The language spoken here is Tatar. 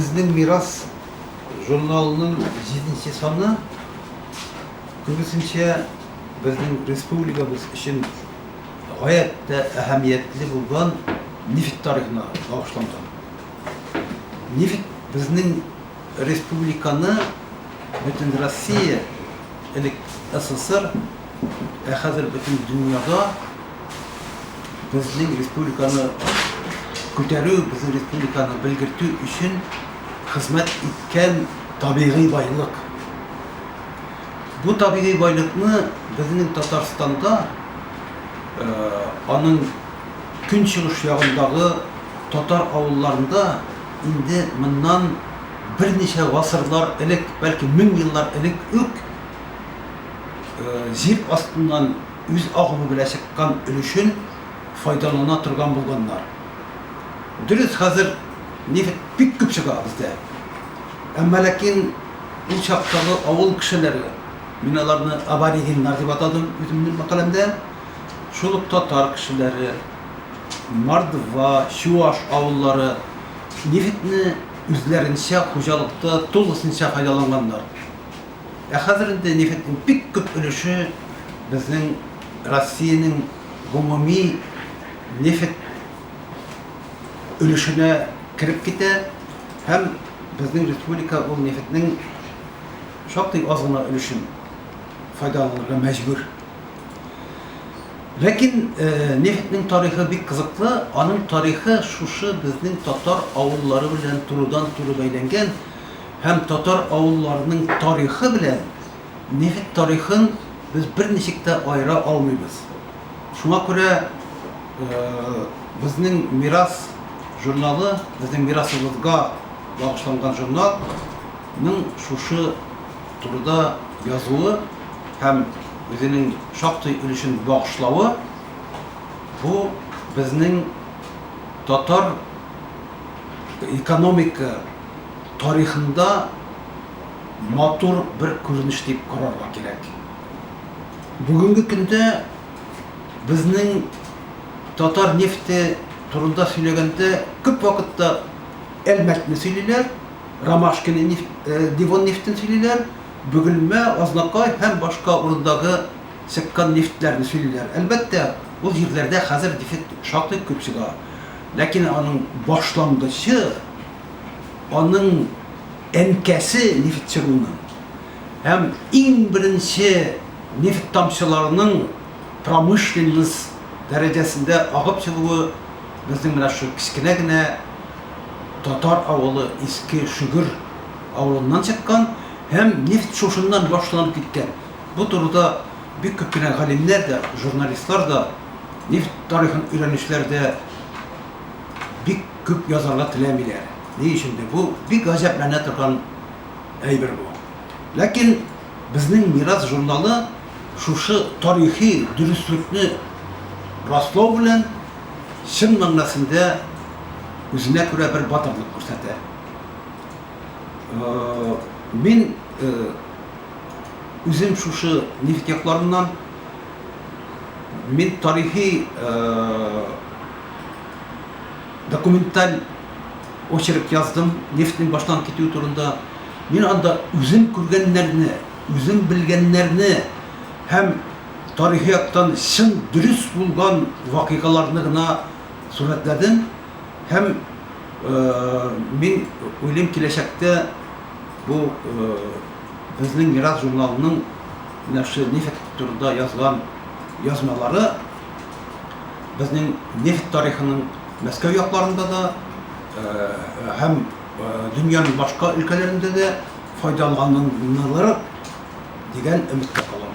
Безнең мирас журналының җиденче саны, күбесенчә, безнең республикабыз өчен гаять тә әһәмиятле булган нефть тарихына багышланган. Нефть безнең республиканы Бөтенроссия, элек СССР, Ә хәзер бөтен дөньяда безнең республиканы күтәрү, безнең республиканы белгертү өчен хезмәт иткән табигый байлык. Бу табигый байлыкны безнең Татарстанда аның көнчыгыш ягындагы татар авылларында инде моннан берничә гасырлар элек, бәлки мең еллар элек үк, җир астыннан үз агымы белән чыккан өлешен файдалана торган булганнар. Дөрес, хәзер нефть бик күп чыга бездә. Әмма ләкин ул чактагы авыл кешеләре, мин аларны аборигеннар дип атадым үземнең мәкаләмдә, шул ук татар кешеләре, мордва, чуаш авыллары нефтьне үзләренчә хуҗалыкта тулысынча файдаланганнар. Ә хәзер инде нефтьнең бик күп өлеше безнең Россиянең гомуми нефть өлешенә кереп китә һәм безнең республика ул нефтьнең шактый аз гына өлешен файдаланырга мәҗбүр. Ләкин нефтьнең тарихы бик кызыклы, аның тарихы шушы безнең татар авыллары белән турыдан-туры бәйләнгән. һәм татар авылларының тарихы белән нефть тарихын без берничек тә аера алмыйбыз. Шуңа күрә Безнең мирас журналы, безнең мирасыбызга багышланган журнал, ның шушы турыда язуы һәм үзенең шактый өлешен багышлавы, бу безнең татар экономика, тарихында матур бер күренеш дип карарга кирәк. Бүгенге көндә безнең татар нефте турында сөйләгәндә күп вакытта Әлмәтне сөйлиләр, Ромашкино нефть, Девон нефтен сөйлиләр, Бөгелмә, Азнакай һәм башка урындагы чыккан нефтьләрне сөйлиләр. Әлбәттә, ул җирләрдә хәзер нефть шактый күп чыга, ләкин аның башлангычы, аның әнкәсе нефть чыгуның һәм иң беренче нефть тамчыларының промышленность дәрәҗәсендә агып чыгуы безнең менә шул кечкенә генә татар авылы Иске Шөгер авылыннан чыккан һәм нефть шушыннан башланып киткән. Бу турыда бик күп кенә галимнәр дә, журналистлар да, нефть тарихын өйрәнүчеләр дә бик Күп язарга теләмиләр. Ни өчендер бу бик гаҗәпләнә торган әйбер бу. Ләкин Безнең мирас журналы шушы тарихи дөреслекне раслау белән чын мәгънәсендә үзенә күрә бер батырлык күрсәтә. Мин үзем шушы нефть якларыннан. Мин тарихи документаль очерк яздым, нефтьнең баштан китүе турында. Мин анда үзем күргәннәрне, үзем белгәннәрне һәм тарихи яктан чын дөрес булган вакыйгаларны гына сурәтләдем һәм мин уйлыйм, киләчәктә бу безнең Мирас журналының менә шушы нефть турында язган язмалары, безнең нефть тарихының Мәскәү якларында да һәм дөньяның башка өлкәләрендә дә файдаланылыр дигән өметтә калам.